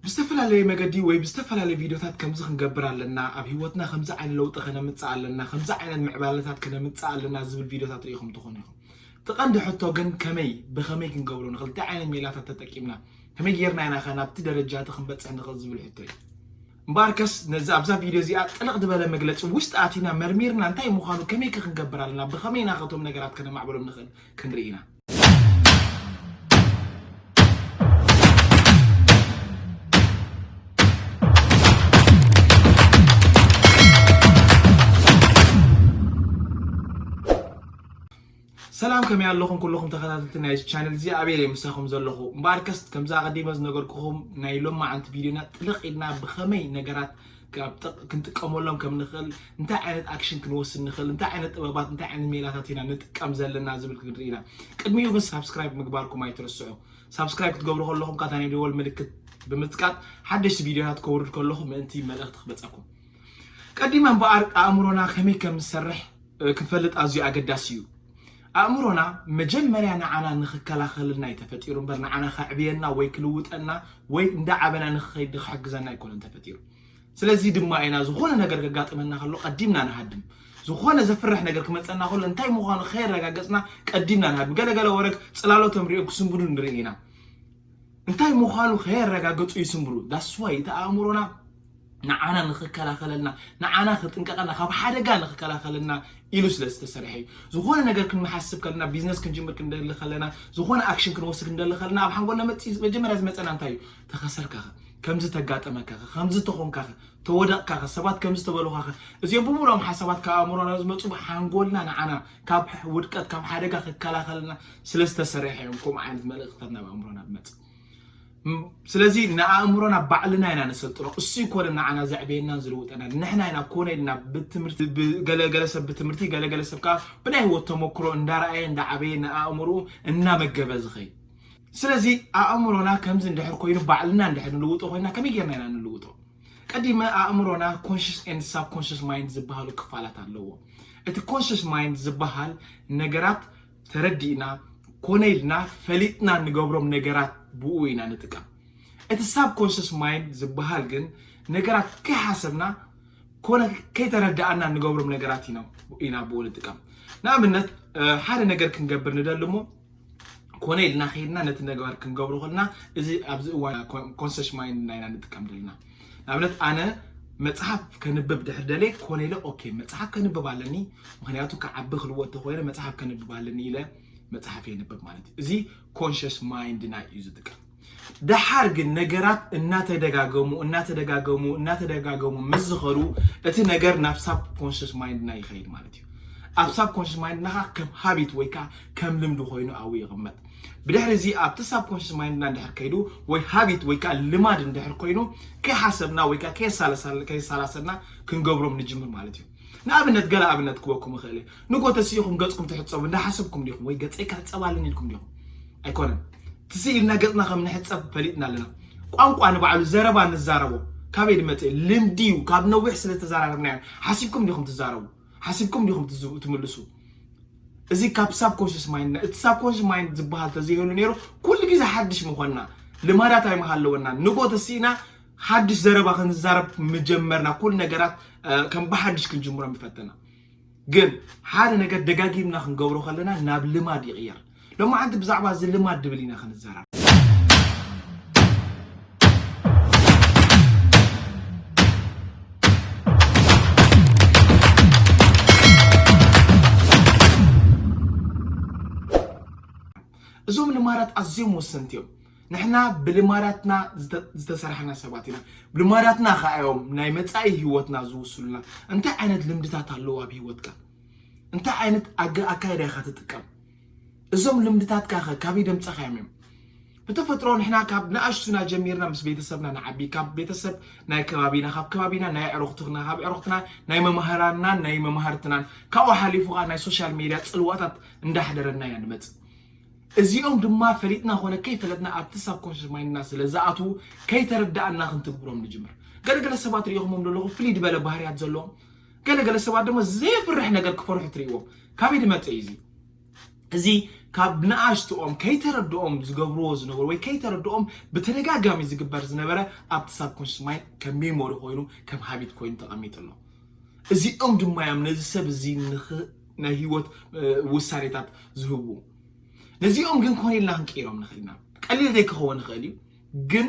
ብዝተፈላለየ መገዲ ወይ ብዝተፈላለየ ቪድዮታት ከምዚ ክንገብር ኣለና፣ ኣብ ህይወትና ከምዚ ዓይነት ለውጢ ከነምጽእ ኣለና፣ ከምዚ ዓይነት ምዕባለታት ከነምጽእ ኣለና ዝብል ቪድዮታት ርኢኹም ትኾኑ ኢኹም። እቲ ቀንዲ ሕቶ ግን ከመይ ብኸመይ ክንገብሮ ንኽእል፣ እንታይ ዓይነት ሜላታት ተጠቂምና፣ ከመይ ጌርና ኢናኸ ናብቲ ደረጃ እቲ ክንበጽሕ ንኽእል ዝብል ሕቶ እዩ። እምበኣርከስ ነዚ ኣብዛ ቪድዮ እዚኣ ጥልቕ ዝበለ መግለጺ ውሽጢ ኣቲና መርሚርና እንታይ ምዃኑ ከመይከ ክንገብር ኣለና ብኸመይ ኢናኸ እቶም ነገራት ከነማዕብሎም ንኽእል ክንርኢ ኢና። ሰላም ከመይ ኣለኹም ኩልኹም ተኸታተልቲ ናይ ቻነል እዚ ኣበየ ምሳኹም ዘለኹ እምበኣርከስ ከምዛ ቀዲመ ዝነገርኩኹም ናይ ሎማዓንቲ ቪድዮና ጥልቕ ኢልና ብኸመይ ነገራት ካብ ጥቕ ክንጥቀመሎም ከም ንኽእል እንታይ ዓይነት ኣክሽን ክንወስድ ንኽእል እንታይ ዓይነት ጥበባት እንታይ ዓይነት ሜላታት ኢና ንጥቀም ዘለና ዝብል ክንርኢ ኢና ቅድሚኡ ግን ሳብስክራይብ ምግባርኩም ኣይትርስዑ ሳብስክራይብ ክትገብሩ ከለኹም ካታ ናይ ደወል ምልክት ብምጽቃጥ ሓደሽቲ ቪድዮታት ከውርድ ከለኹ ምእንቲ መልእኽቲ ክበጸኩም ቀዲማ እምበኣር ኣእምሮና ከመይ ከም ዝሰርሕ ክንፈልጥ ኣዝዩ ኣገዳሲ እዩ ኣእምሮና መጀመርያ ንዓና ንኽከላኸለልና እዩ ተፈጢሩ እምበር ንዓና ከዕብየና ወይ ክልውጠና ወይ እንዳዓበና ንኽኸይድ ንኽሕግዘና ኣይኮነን ተፈጢሩ። ስለዚ ድማ ኢና ዝኾነ ነገር ከጋጥመና ከሎ ቀዲምና ንሃድም። ዝኾነ ዘፍርሕ ነገር ክመጸና ከሎ እንታይ ምዃኑ ከየረጋገጽና ቀዲምና ንሃድም። ገለገለ ወረግ ጽላሎቶም ሪኦም ክስንብዱ ንርኢ ኢና። እንታይ ምዃኑ ከየረጋገጹ ይስንብሉ። ዳስዋይ እቲ ኣእምሮና ንዓና ንኽከላኸለልና፣ ንዓና ክጥንቀቐልና፣ ካብ ሓደጋ ንኽከላኸለልና ኢሉ ስለ ዝተሰርሐ እዩ። ዝኾነ ነገር ክንሓስብ ከለና፣ ቢዝነስ ክንጅምር ክንደሊ ከለና፣ ዝኾነ ኣክሽን ክንወስድ ክንደሊ ከለና፣ ኣብ ሓንጎልና መጺ መጀመርያ ዝመጸና እንታይ እዩ? ተኸሰርካኸ፣ ከምዚ ተጋጠመካኸ፣ ከምዚ ተኾንካኸ፣ ተወደቕካኸ፣ ሰባት ከምዚ ተበሉኻኸ፣ እዚኦም ብምሉኦም ሓሳባት ካብ ኣእምሮና ዝመጹ ሓንጎልና ንዓና ካብ ውድቀት ካብ ሓደጋ ክከላኸለልና ስለ ዝተሰርሐ እዮም ከምኡ ዓይነት መልእኽትታት ናብ ኣእምሮና ዝመጽእ። ስለዚ ንኣእምሮና ባዕልና ኢና ነሰልጥኖ። እሱ ይኮነ ንዓና ዘዕበየናን ዝልውጠናን ንሕና ኢና ኮነ ኢልና ብትምህርቲ ገለገለ ሰብ ብትምህርቲ ገለገለ ሰብ ከዓ ብናይ ህይወት ተሞክሮ እንዳረኣየ እንዳዓበየ ንኣእምሮኡ እናመገበ ዝኸይድ ስለዚ ኣእምሮና ከምዚ እንድሕር ኮይኑ ባዕልና እንድሕር ንልውጦ ኮይና ከመይ ጌርና ኢና ንልውጦ? ቀዲመ ኣእምሮና ኮንሽስ ኤንድ ሳብ ኮንሽስ ማይንድ ዝበሃሉ ክፋላት ኣለዎ። እቲ ኮንሽስ ማይንድ ዝበሃል ነገራት ተረዲእና ኮነ ኢልና ፈሊጥና ንገብሮም ነገራት ብኡ ኢና ንጥቀም። እቲ ሳብ ኮንሽስ ማይንድ ዝበሃል ግን ነገራት ከይሓሰብና ኮነ ከይተረዳእና ንገብሮም ነገራት ኢና ብኡ ንጥቀም። ንኣብነት ሓደ ነገር ክንገብር ንደሊ እሞ ኮነ ኢልና ከይድና ነቲ ነገር ክንገብሮ ከለና እዚ ኣብዚ እዋን ኮንሽስ ማይንድና ኢና ንጥቀም ደለና። ንኣብነት ኣነ መጽሓፍ ከንብብ ድሕር ደልየ ኮነ ኢለ ኦኬ መጽሓፍ ከንብብ ኣለኒ ምክንያቱ ክዓቢ ክልዎ እንተኮይነ መጽሓፍ ከንብብ ኣለኒ ኢለ መጽሓፍ የንብብ ማለት እዩ እዚ ኮንሽስ ማይንድና እዩ ዝጥቀም ደሓር ግን ነገራት እናተደጋገሙ እናተደጋገሙ እናተደጋገሙ ምስ ዝኸዱ እቲ ነገር ናብ ሳብ ኮንሽስ ማይንድና ይኸይድ ማለት እዩ ኣብ ሳብ ኮንሽስ ማይንድናኻ ከም ሃቢት ወይ ከዓ ከም ልምዲ ኮይኑ ኣብኡ ይቕመጥ ብድሕሪ እዚ ኣብቲ ሳብኮንሽስ ማይንድና እንድሕር ከይዱ ወይ ሃቢት ወይ ከዓ ልማድ እንድሕር ኮይኑ ከይሓሰብና ወይ ከዓ ከየሳላሰልና ክንገብሮም ንጅምር ማለት እዩ ንኣብነት ገለ ኣብነት ክበኩም ይኽእል እየ ንጎ ተስኢኹም ገፅኩም ትሕፀቡ እንዳሓሰብኩም ዲኹም ወይ ገፀይ ክሕፀብ ኣለኒ ኢልኩም ዲኹም ኣይኮነን ትስኢ ኢልና ገፅና ከም ንሕፀብ ፈሊጥና ኣለና ቋንቋ ንባዕሉ ዘረባ ንዛረቦ ካበይ ድመፅእ ልምዲ እዩ ካብ ነዊሕ ስለተዘራረብናዮ ሓሲብኩም ዲኹም ትዛረቡ ሓሲብኩም ዲኹም ትምልሱ? እዚ ካብ ሳብኮንሽስ ማይንድና እቲ ሳብኮንሽስ ማይንድ ዝበሃል ተዘይህሉ ነይሩ ኩሉ ግዜ ሓድሽ ምኾንና ልማዳት ኣይምሃለወና ንጎ ተሲእና ሓድሽ ዘረባ ክንዛረብ ምጀመርና ኩሉ ነገራት ከም ብሓድሽ ክንጅምሮም ይፈተና ግን ሓደ ነገር ደጋጊምና ክንገብሮ ከለና ናብ ልማድ ይቕየር ሎማዓንቲ ብዛዕባ እዚ ልማድ ድብል ኢና ክንዛራብ። እዞም ልማዳት ኣዝዮም ወሰንቲ እዮም። ንሕና ብልማዳትና ዝተሰርሐና ሰባት ኢና። ብልማዳትና ከኣዮም ናይ መፃኢ ህይወትና ዝውስሉና። እንታይ ዓይነት ልምድታት ኣለዉ ኣብ ህይወትካ? እንታይ ዓይነት ኣገ ኣካይዳ ኢኻ ትጥቀም? እዞም ልምድታትካ ከ ካበይ ደምጸኻዮም እዮም? ብተፈጥሮ ንሕና ካብ ንኣሽቱና ጀሚርና ምስ ቤተሰብና ንዓቢ ካብ ቤተሰብ ናይ ከባቢና ካብ ከባቢና ናይ ኣዕሩኽትና ካብ ኣዕሩኽትና ናይ መማህራንናን ናይ መማህርትናን ካብኡ ሓሊፉ ከዓ ናይ ሶሻል ሜድያ ጽልዋታት እንዳሕደረና ኢና ንመጽእ እዚኦም ድማ ፈሊጥና ኮነ ከይፈለጥና ኣብቲ ሳብ ኮንሽስ ማይንድና ስለ ዝኣትዉ ከይተረዳእና ክንትግብሮም ንጅምር ገለገለ ሰባት ሪኢኹሞም ዘለኹ ፍልይ ዝበለ ባህርያት ዘለዎም ገለ ገለ ሰባት ድማ ዘየፍርሕ ነገር ክፈርሑ ትርእይዎም ካበይ ዝመፀ እዩ እዚ እዚ ካብ ንኣሽትኦም ከይተረድኦም ዝገብርዎ ዝነበሩ ወይ ከይተረድኦም ብተደጋጋሚ ዝግበር ዝነበረ ኣብቲ ሳብኮንሽስ ማይንድ ከም ሜሞሪ ኮይኑ ከም ሃቢት ኮይኑ ተቐሚጡ ኣሎ እዚኦም ድማ እዮም ነዚ ሰብ እዚ ናይ ህይወት ውሳኔታት ዝህቡ ነዚኦም ግን ኮነ ኢልና ክንቅይሮም ንኽእል ኢና ቀሊል ዘይክኸውን ይኽእል እዩ ግን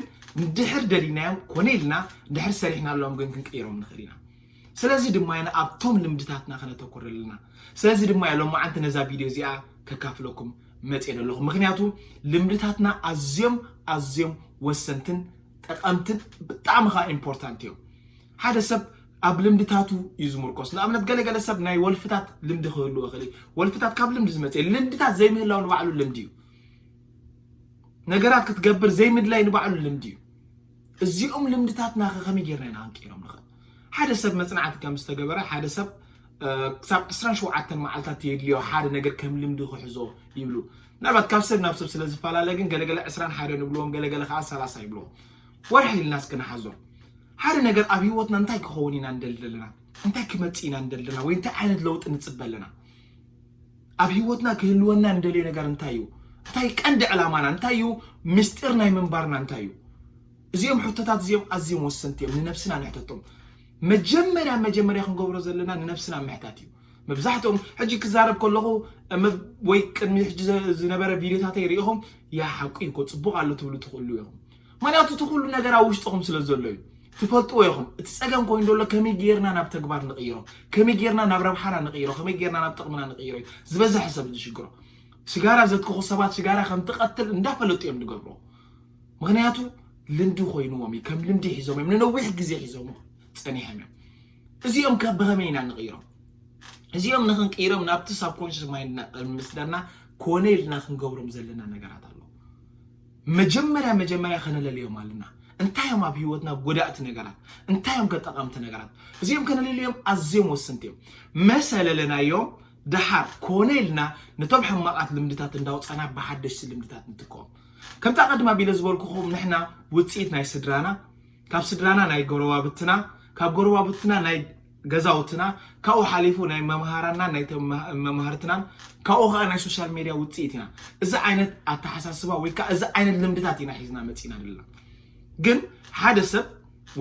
ድሕር ደሊናዮም ኮነ ኢልና ድሕር ሰሪሕናሎም ግን ክንቅይሮም ንኽእል ኢና ስለዚ ድማ ኢና ኣብቶም ልምድታትና ከነተኩር ዘለና። ስለዚ ድማ እየ ሎማዓንቲ ነዛ ቪድዮ እዚኣ ከካፍለኩም መፅየ ዘለኹ። ምክንያቱ ልምድታትና ኣዝዮም ኣዝዮም ወሰንትን ጠቐምትን ብጣዕሚ ከዓ ኢምፖርታንት እዮም። ሓደ ሰብ ኣብ ልምድታቱ እዩ ዝምርኮስ ንኣብነት ገለገለ ሰብ ናይ ወልፍታት ልምዲ ክህልዎ ክእል ወልፍታት ካብ ልምዲ ዝመፅ ልምድታት ዘይምህላው ንባዕሉ ልምዲ እዩ ነገራት ክትገብር ዘይምድላይ ንባዕሉ ልምዲ እዩ እዚኦም ልምድታትናኸ ከመይ ጌርና ኢና ክንቅይሮም ንኽእል? ሓደ ሰብ መጽናዕቲ ከም ዝተገበረ ሓደ ሰብ ክሳብ ዕስራን ሸውዓተን መዓልትታት የድልዮ ሓደ ነገር ከም ልምዲ ክሕዞ ይብሉ። ምናልባት ካብ ሰብ ናብ ሰብ ስለ ዝፈላለ ግን ገለገለ ዕስራን ሓደን ይብልዎም ገለገለ ከዓ ሰላሳ ይብልዎም። ወርሒ ኢልና እስኪ ንሓዞ። ሓደ ነገር ኣብ ህይወትና እንታይ ክኸውን ኢና ንደሊ ዘለና እንታይ ክመጽእ ኢና ንደሊ ዘለና ወይ እንታይ ዓይነት ለውጢ ንጽበ ኣለና? ኣብ ህይወትና ክህልወና እንደልዮ ነገር እንታይ እዩ? እንታይ ቀንዲ ዕላማና እንታይ እዩ? ምስጢር ናይ ምንባርና እንታይ እዩ? እዚኦም ሕቶታት እዚኦም ኣዝዮም ወሰንቲ እዮም፣ ንነብስና ንሕተቶም። መጀመርያ መጀመርያ ክንገብሮ ዘለና ንነብስና ምሕታት እዩ። መብዛሕትኦም ሕጂ ክዛረብ ከለኹ ወይ ቅድሚ ሕጂ ዝነበረ ቪድዮታተይ ርኢኹም ያ ሓቁ እዩ እኮ ጽቡቕ ኣሎ ትብሉ ትኽእሉ ኢኹም። ምክንያቱ እቲ ኩሉ ነገር ኣብ ውሽጥኹም ስለ ዘሎ እዩ። ትፈልጥዎ ኢኹም እቲ ጸገም ኮይኑ ዘሎ ከመይ ጌርና ናብ ተግባር ንቕይሮ፣ ከመይ ጌርና ናብ ረብሓና ንቕይሮ፣ ከመይ ጌርና ናብ ጥቕምና ንቕይሮ እዩ ዝበዝሐ ሰብ ዝሽግሮ። ሽጋራ ዘትክኹ ሰባት ሽጋራ ከም ትቐትል እንዳፈለጡ እዮም ዝገብርዎ። ምክንያቱ ልምዲ ኮይንዎም እዩ፣ ከም ልምዲ ሒዞም እዮም፣ ንነዊሕ ግዜ ሒዞም ጸኒሖም እዮም። እዚኦም ከ ብኸመይ ኢና ንቕይሮም? እዚኦም ንክንቅይሮም ናብቲ ሳብኮንሽስ ማይንድና ቅድሚ ምስዳድና ኮነ ኢልና ክንገብሮም ዘለና ነገራት ኣሎ። መጀመርያ መጀመርያ ከነለልዮም ኣለና እንታይ እዮም ኣብ ህይወትና ጎዳእቲ ነገራት እንታይ እዮም ከጠቐምቲ ነገራት እዚኦም ከነለልዮም ኣዝዮም ወስንቲ እዮም መሰለለናዮም ደሓር ኮነ ኢልና ነቶም ሕማቓት ልምድታት እንዳውፀና ብሓደሽቲ ልምድታት ንትከኦም ከምቲ ኣቐድማ ቢለ ዝበልኩኹም ንሕና ውፅኢት ናይ ስድራና ካብ ስድራና ናይ ጎረባብትና ካብ ጎረባብትና ናይ ገዛውትና ካብኡ ሓሊፉ ናይ መምሃራናን ናይ መማህርትናን ካብኡ ከዓ ናይ ሶሻል ሜድያ ውፅኢት ኢና እዚ ዓይነት ኣተሓሳስባ ወይ ከዓ እዚ ዓይነት ልምድታት ኢና ሒዝና መፂና ዘለና ግን ሓደ ሰብ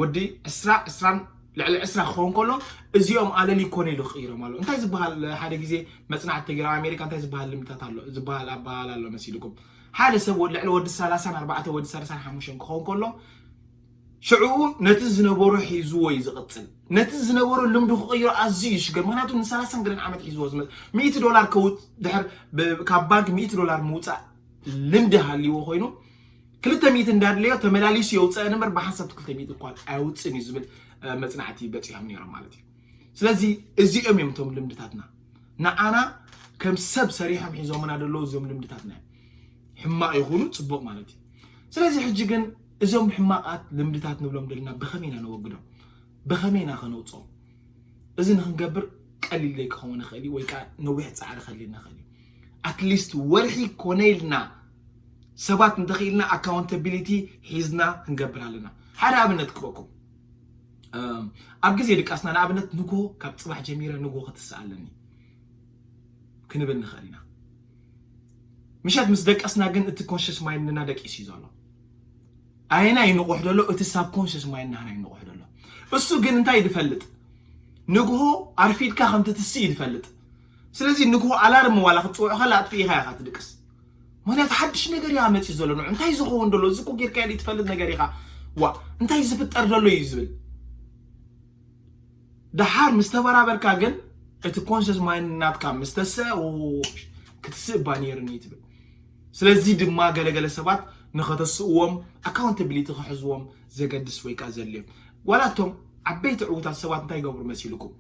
ወዲ ዕስራ ዕስራን ልዕሊ ዕስራ ክኸውን ከሎ እዚኦም ኣለል ይኮነ ኢሉ ክቕይሮም ኣሎ እንታይ ዝበሃል ሓደ ግዜ መፅናዕቲ ተገይሩ ኣብ ኣሜሪካ እንታይ ዝበሃል ልምድታት ኣሎ ዝበሃል ኣበሃል ኣሎ መሲልኩም ሓደ ሰብ ልዕሊ ወዲ ሰላሳን ኣርባዕተ ወዲ ሰላሳን ሓሙሽተን ክኸውን ከሎ ሽዕኡ ነቲ ዝነበሮ ሒዝዎ እዩ ዝቕጽል። ነቲ ዝነበሮ ልምዱ ክቕይሮ ኣዝዩ እዩ ዝሽገር። ምኽንያቱ ንሰላሳን ገለን ዓመት ሒዝዎ ዝመ ሚእቲ ዶላር ከውጽ ድሕር ብ- ካብ ባንክ ሚእቲ ዶላር ምውጻእ ልምዲ ሃልይዎ ኮይኑ ክልተ ሚእቲ እንዳድለዮ ተመላሊሱ የውጽአን እምበር ብሓንሳብ ክልተ ሚእቲ እኳ ኣየውጽእን እዩ ዝብል እ፣ መጽናዕቲ በጺሖም ነይሮም ማለት እዩ። ስለዚ እዚኦም እዮም እቶም ልምድታትና ንዓና ከም ሰብ ሰሪሖም ሒዞምና ደለዉ እዚኦም ልምድታትና እዮም። ሕማቕ ይኹኑ ጽቡቕ ማለት እዩ። ስለዚ ሕጂ ግን እዞም ሕማቓት ልምድታት ንብሎም ዘለና ብኸመይ ኢና ነወግዶም? ብኸመይ ኢና ከነውፅኦም? እዚ ንክንገብር ቀሊል ዘይክኸውን ይኽእል እዩ ወይ ከዓ ነዊሕ ፃዕሪ ከድልየና ይኽእል እዩ። ኣትሊስት ወርሒ ኮነ ኢልና ሰባት እንተኽኢልና ኣካውንታቢሊቲ ሒዝና ክንገብር ኣለና። ሓደ ኣብነት ክበኩም ኣብ ግዜ ድቃስና ንኣብነት ንግሆ ካብ ፅባሕ ጀሚረ ንግሆ ክትስእ ኣለኒ ክንብል ንኽእል ኢና። ምሸት ምስ ደቀስና ግን እቲ ኮንሽስ ማይንድና ደቂስ እዩ ዘሎ ኣየና ይንቑሕ ዘሎ እቲ ሳብ ኮንሽስ ማይንድና ይንቑሕ ዘሎ እሱ ግን እንታይ ዝፈልጥ ንግሆ ኣርፊድካ ከምቲ ትስእ እዩ ዝፈልጥ ስለዚ ንግሆ ኣላርም ዋላ ክትፅውዑ ከላ ኣጥፍኢኻ ኢኻ ትድቅስ ምክንያቱ ሓድሽ ነገር እያ መፂ ዘሎ ንዑ እንታይ ዝኸውን ደሎ እዚ እኮ ጌርካ ትፈልጥ ነገር ኢኻ ዋ እንታይ ዝፍጠር ደሎ እዩ ዝብል ደሓር ምስ ተበራበርካ ግን እቲ ኮንሸስ ማይንድ ናትካ ምስ ተስእ ክትስእ እባ ነይርኒ ትብል ስለዚ ድማ ገለገለ ሰባት ንኸተስእዎም ኣካውንታቢሊቲ ክሕዝዎም ዘገድስ ወይ ከዓ ዘድልዮም ዋላ እቶም ዓበይቲ ዕውታት ሰባት እንታይ ይገብሩ መሲልኩም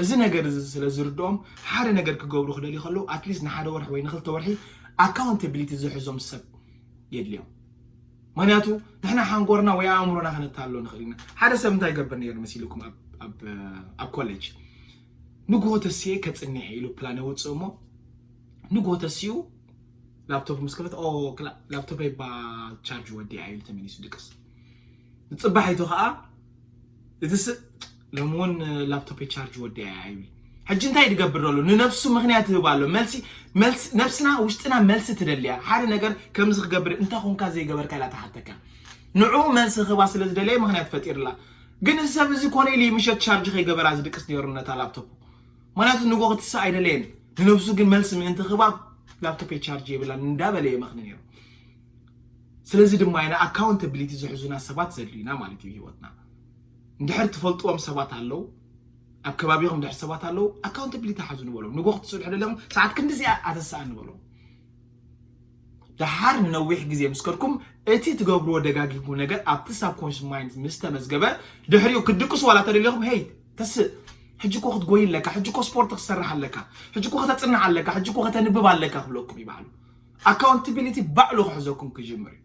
እዚ ነገር እዚ ስለ ዝርድኦም ሓደ ነገር ክገብሩ ክደልዩ ከለዉ ኣትሊስት ንሓደ ወርሒ ወይ ንክልተ ወርሒ ኣካውንታቢሊቲ ዝሕዞም ሰብ የድልዮም ምክንያቱ ንሕና ሓንጎርና ወይ ኣእምሮና ከነታሎ ንኽእል ኢና ሓደ ሰብ እንታይ ይገብር ነይሩ መሲልኩም ኣብ ኮሌጅ ንግሆ ተስኤ ከፅኒዐ ኢሉ ፕላን የውፅእ እሞ ንግሆ ተሲኡ ላፕቶፕ ምስ ከፈት ላፕቶፕ ይባ ቻርጅ ወዲኣ ኢሉ ተመሊሱ ድቅስ ንፅባሒቱ ከዓ እቲ ሎሚ እውን ላፕቶፔ ቻርጅ ወዲኣ እያ ኣይቢ ሕጂ እንታይ ድገብር ኣሎ ንነብሱ ምክንያት ይህብ ኣሎ መልሲ መልሲ ነብስና ውሽጥና መልሲ ትደልያ ሓደ ነገር ከምዚ ክገብር እንታይ ኮንካ ዘይገበርካ ኢላ ትሓተካ ንዕኡ መልሲ ክህባ ስለ ዝደለየ ምክንያት ፈጢርላ ግን እዚ ሰብ እዚ ኮነ ኢሉ ምሸት ቻርጅ ከይገበራ ዝድቅስ ነይሩ ነታ ላፕቶፕ ምክንያቱ ንጎ ክትስእ ኣይደለየን ንነብሱ ግን መልሲ ምእንቲ ክህባ ላፕቶፔ ቻርጅ የብላን እንዳበለ የመኽኒ ነይሩ ስለዚ ድማ ኢና ኣካውንተብሊቲ ዝሕዙና ሰባት ዘድልዩና ማለት እዩ ህይወትና እንድሕር ትፈልጥዎም ሰባት ኣለው ኣብ ከባቢኹም ድሕር ሰባት ኣለው ኣካውንታብሊቲ ሓዙ ንበሎም ንጎ ክትፅንሑ ደለኹም ሰዓት ክንዲ እዚኣ ኣተሰኣ ንበሎም ድሓር ንነዊሕ ግዜ ምስ ከድኩም እቲ ትገብርዎ ደጋጊምኩም ነገር ኣብቲ ሳብኮንሽስ ማይንድ ምስ ተመዝገበ ድሕሪኡ ክትድቅሱ ዋላ ተደሊኹም ሄይ ተስእ ሕጂ እኮ ክትጎይ ኣለካ ሕጂ እኮ ስፖርት ክሰርሕ ኣለካ ሕጂ እኮ ከተፅንሕ ኣለካ ሕጂ እኮ ከተንብብ ኣለካ ክብለኩም ይባዕሉ ኣካውንታብሊቲ ባዕሉ ክሕዘኩም ክጅምር እዩ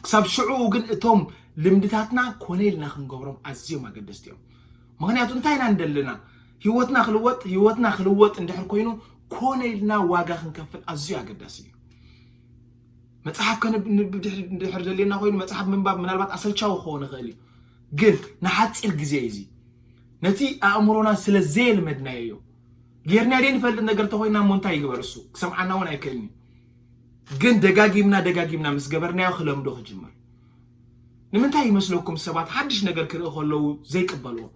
ክሳብ ሽዑኡ ግን እቶም ልምድታትና ኮነ ኢልና ክንገብሮም ኣዝዮም ኣገደስቲ እዮም ምክንያቱ እንታይ ኢና ንደልና ህይወትና ክልወጥ ህይወትና ክልወጥ እንድሕር ኮይኑ ኮነ ኢልና ዋጋ ክንከፍል ኣዝዩ ኣገዳሲ እዩ መጽሓፍ ከንብብ ድሕር ደልየና ኮይኑ መጽሓፍ ምንባብ ምናልባት ኣሰልቻዊ ክኸውን ይኽእል እዩ ግን ንሓፂር ግዜ እዩ እዚ ነቲ ኣእምሮና ስለ ዘየልመድናዮ እዩ ጌርና ደይ ንፈልጥ ነገር ተኮይና እሞ እንታይ ይግበር እሱ ክሰምዓና እውን ኣይክእልን እዩ ግን ደጋጊምና ደጋጊምና ምስ ገበርናዮ ክለምዶ ክጅምር ንምንታይ ይመስለኩም ሰባት ሓድሽ ነገር ክርኢ ከለዉ ዘይቅበልዎ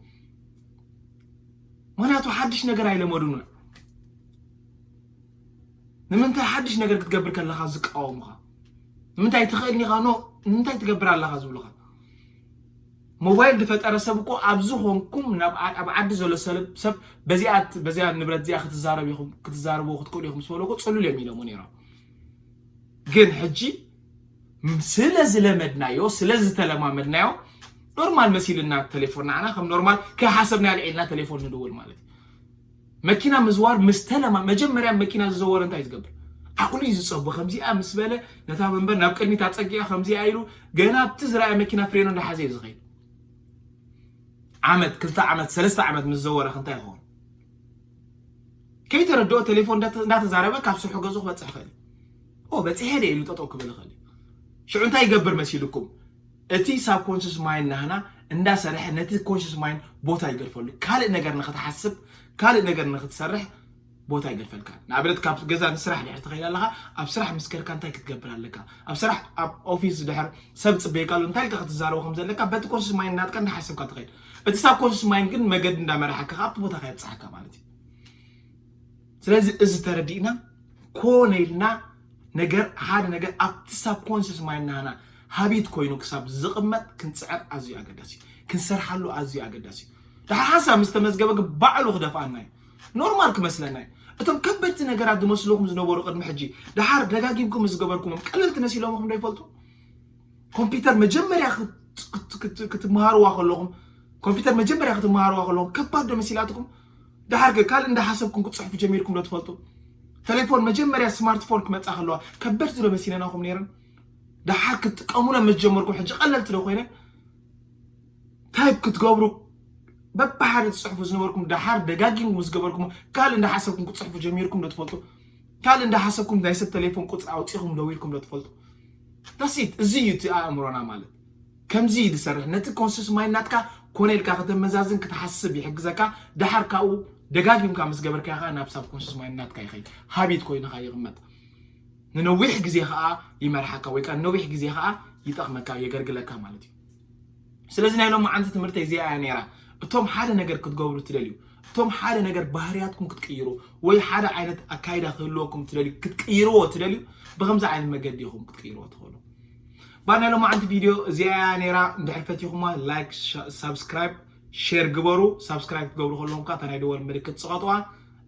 ምክንያቱ ሓድሽ ነገር ኣይለመዱን ንምንታይ ሓድሽ ነገር ክትገብር ከለካ ዝቃወሙካ ንምንታይ ትኽእልኒኻ ኖ ንምንታይ ትገብር ኣለኻ ዝብሉኻ ሞባይል ድፈጠረ ሰብ እኮ ኣብዚ ኾንኩም ናብ ኣብ ዓዲ ዘሎ ሰለብ ሰብ በዚኣ በዚኣ ንብረት እዚኣ ክትዛረብ ኢኹም ክትዛረብዎ ክትክእሉ ኢኹም ዝበለኩ ጽሉል እዮም ኢሎሞ ነይሮም ግን ሕጂ ስለ ዝለመድናዮ ስለ ዝተለማመድናዮ ኖርማል መሲልና ቴሌፎን ንዓና ከም ኖርማል ከይሓሰብና ልዒልና ቴሌፎን ንድውል ማለት እዩ መኪና ምዝዋር ምስ ተለማ መጀመርያ መኪና ዝዘወረ እንታይ ዝገብር ዓቕሉ እዩ ዝፀቡ ከምዚኣ ምስ በለ ነታ መንበር ናብ ቅድሚት ኣፀጊኣ ከምዚኣ ኢሉ ገና ኣብቲ ዝረኣየ መኪና ፍሬኑ እንዳሓዘ እዩ ዝኸይድ ዓመት ክልተ ዓመት ሰለስተ ዓመት ምስ ዘወረ ክንታይ ይኸውን ከይተረድኦ ቴሌፎን እንዳተዛረበ ካብ ስርሑ ገዝኡ ክበፅሕ ይኽእል እዩ በፂሐ ደ ኢሉ ጠጠው ክብል ይኽእል እዩ ሽዑ እንታይ ይገብር መሲልኩም እቲ ሳብኮንሽስ ማይንድ ናህና እንዳሰርሐ ነቲ ኮንሽስ ማይንድ ቦታ ይገድፈሉ ካልእ ነገር ንኽትሓስብ ካልእ ነገር ንኽትሰርሕ ቦታ ይገድፈልካ ንኣብነት ካብ ገዛ ንስራሕ ድሕር ትኸይድ ኣለኻ ኣብ ስራሕ ምስ ከድካ እንታይ ክትገብር ኣለካ ኣብ ስራሕ ኣብ ኦፊስ ድሕር ሰብ ፅበየካ ኣሎ እንታይ ኢልካ ክትዛረቦ ከም ዘለካ በቲ ኮንሽስ ማይንድ ናትካ እንዳሓሰብካ ትኸይድ እቲ ሳብኮንሽስ ማይንድ ግን መገዲ እንዳመራሓካ ካብቲ ቦታካ የብፅሓካ ማለት እዩ ስለዚ እዚ ተረዲእና ኮነ ኢልና ነገር ሓደ ነገር ኣብቲ ሳብ ኮንስስ ማይናና ሃቢት ኮይኑ ክሳብ ዝቕመጥ ክንፅዕር ኣዝዩ ኣገዳሲ እዩ ክንሰርሓሉ ኣዝዩ ኣገዳሲ እዩ ድሓር ሓንሳብ ምስ ተመዝገበ ግን ባዕሉ ክደፍኣና እዩ ኖርማል ክመስለና እዩ እቶም ከበድቲ ነገራት ዝመስልኹም ዝነበሩ ቅድሚ ሕጂ ድሓር ደጋጊምኩም ዝገበርኩሞም ቀለልቲ መሲሎምኹም ዶ ይፈልጡ ኮምፒውተር መጀመርያ ክትመሃርዋ ከለኹም ኮምፒውተር መጀመርያ ክትመሃርዋ ከለኹም ከባድ ዶ መሲላትኩም ደሓር ከ ካልእ እንዳሓሰብኩም ክትጽሕፉ ጀሚርኩም ዶ ትፈልጡ? ተሌፎን መጀመርያ ስማርትፎን ክመጻ ከለዋ ከበድቲ ዶ መሲለናኹም ነይረን? ደሓር ክትጥቀሙለን ምስ ጀመርኩም ሕጂ ቀለልቲ ዶ ኮይነን? ታይፕ ክትገብሩ በብሓደ ትጽሕፉ ዝነበርኩም ደሓር ደጋጊም ምስ ገበርኩም ካልእ እንዳሓሰብኩም ክትጽሕፉ ጀሚርኩም ዶ ትፈልጡ? ካልእ እንዳሓሰብኩም ናይ ሰብ ተሌፎን ቁጽሪ ኣውጺኹም ደዊልኩም ዶ ትፈልጡ? ዳሲት እዚ እዩ እቲ ኣእምሮና ማለት ከምዚ እዩ ዝሰርሕ ነቲ ኮንስስ ማይንድ ናትካ ኮነ ኢልካ ከተመዛዝን ክትሓስብ ይሕግዘካ ደሓር ካብኡ ደጋጊምካ ምስ ገበርካዮ ከኣ ናብ ሳብ ኮንስስ ማይንድ ናትካ ይኸይድ ሃቢት ኮይኑ ከኣ ይቕመጥ ንነዊሕ ግዜ ከኣ ይመርሓካ ወይ ከኣ ንነዊሕ ግዜ ከኣ ይጠቕመካ የገርግለካ ማለት እዩ ስለዚ ናይ ሎም ዓንቲ ትምህርተይ እዚኣ እያ ነይራ እቶም ሓደ ነገር ክትገብሩ ትደልዩ እቶም ሓደ ነገር ባህርያትኩም ክትቅይሩ ወይ ሓደ ዓይነት ኣካይዳ ክህልወኩም ትደልዩ ክትቅይርዎ ትደልዩ ብከምዚ ዓይነት መገዲ ኢኹም ክትቅይርዎ ትኽእሉ እባ ናይ ሎማዓንቲ ቪድዮ እዚኣ እያ ነይራ እንድሕር ፈቲኹማ ላይክ ሳብስክራይብ ሼር ግበሩ ሳብስክራይብ ክትገብሩ ከለኹም ከዓ እታ ናይ ደወል ምልክት ፅቐጥዋ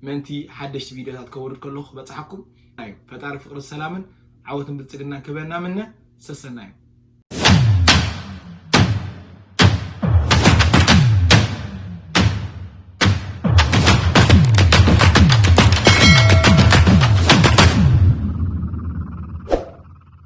ምእንቲ ሓደሽቲ ቪድዮታት ከውርድ ከለኹ ክበፅሓኩም እዩ ፈጣሪ ፍቅርን ሰላምን ዓወትን ብልፅግናን ክህበና ምነ ሰሰናዩ